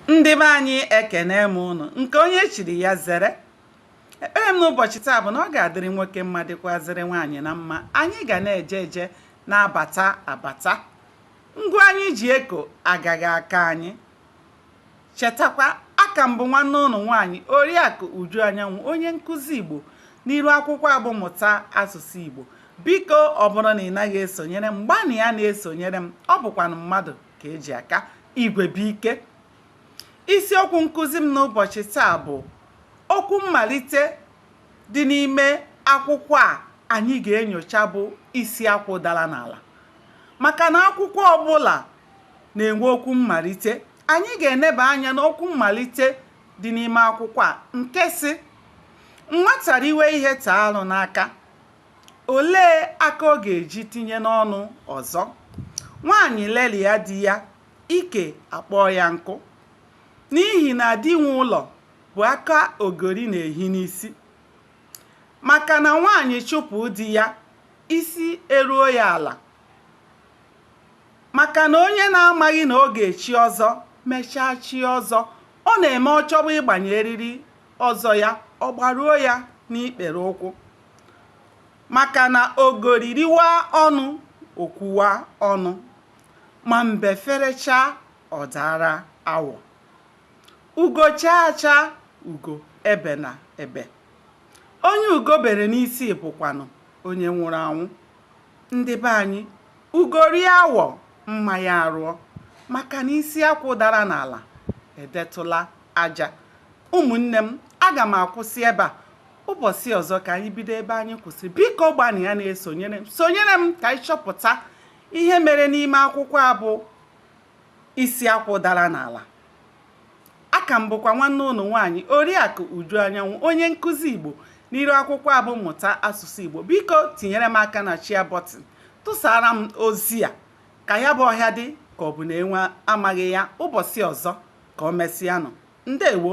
ndị be anyị ekenee m ụnụ nke onye chiri ya zere ekpere m n'ụbọchị taa bụ na ọ ga-adịrị nwoke mma dịkwazịrị nwaanyị na mma anyị ga na-eje eje na-abata abata ngwa anyị ji eko agaghị aka anyị chetakwa aka m bụ nwanne ụnụ nwaanyị oriakụ uju anyanwụ onye nkụzi igbo n'iru akwụkwọ a bụ mụta asụsụ igbo biko ọ bụrụ na ị naghị esonyere m gbanịa na-esonyere m ọ bụkwanụ mmadụ ka e ji aka igwe bụ ike isiokwu nkụzi m n'ụbọchị taa bụ okwu mmalite dị n'ime akwụkwọ a anyị ga-enyocha bụ isi akwụ dara n'ala maka na akwụkwọ ọbụla na-enwe okwu mmalite anyị ga-eneba anya n'okwu mmalite dị n'ime akwụkwọ a nke sị nwata riwe ihe taa arụ n'aka Olee aka ọ ga-eji tinye n'ọnụ ọzọ? Nwaanyị lelịa di ya, ike akpọọ ya nkụ. N'ihi na di nwe ụlọ bụ aka ogori na-ehi n'isi. Maka na nwaanyị chụpụ di ya, isi eruo ya ala. Maka na onye na-amaghị na ọ ga-echi ọzọ mechaa chie ọzọ, ọ na-eme ọ chọba ịgbanye eriri ọzọ ya, ọ gbaruo ya n'ikpere ụkwụ. maka na ogori riwa ọnụ o kwuwa ọnụ ma mbe ferechaa ọ daara awọ ugo chaa acha ugo ebe na ebe onye ugo bere n'isi bụkwanụ onye nwụrụ anwụ ndị be anyị ugo rie awọ mma ya arụọ maka na isi akwụ dara n'ala edetụla aja ụmụnne m aga m akwụsị ebe a ụbọchị ọzọ ka anyị bido ebe anyị kwụsịrị biko gbanịa na-esonyere m sonyere m ka anyị chọpụta ihe mere n'ime akwụkwọ a bụ isi akwụ dara n'ala aka m bụkwa nwanne ụnụ nwaanyị oriakụ uju anyanwụ onye nkụzi igbo n'iru akwụkwọ a bụ mụta asụsụ igbo biko tinyere m aka na share button tụsara m ozi a ka ya bụ ọhịa dị ka ọ bụ na enwe amaghị ya ụbọchị ọzọ ka o mesịanụ ndewo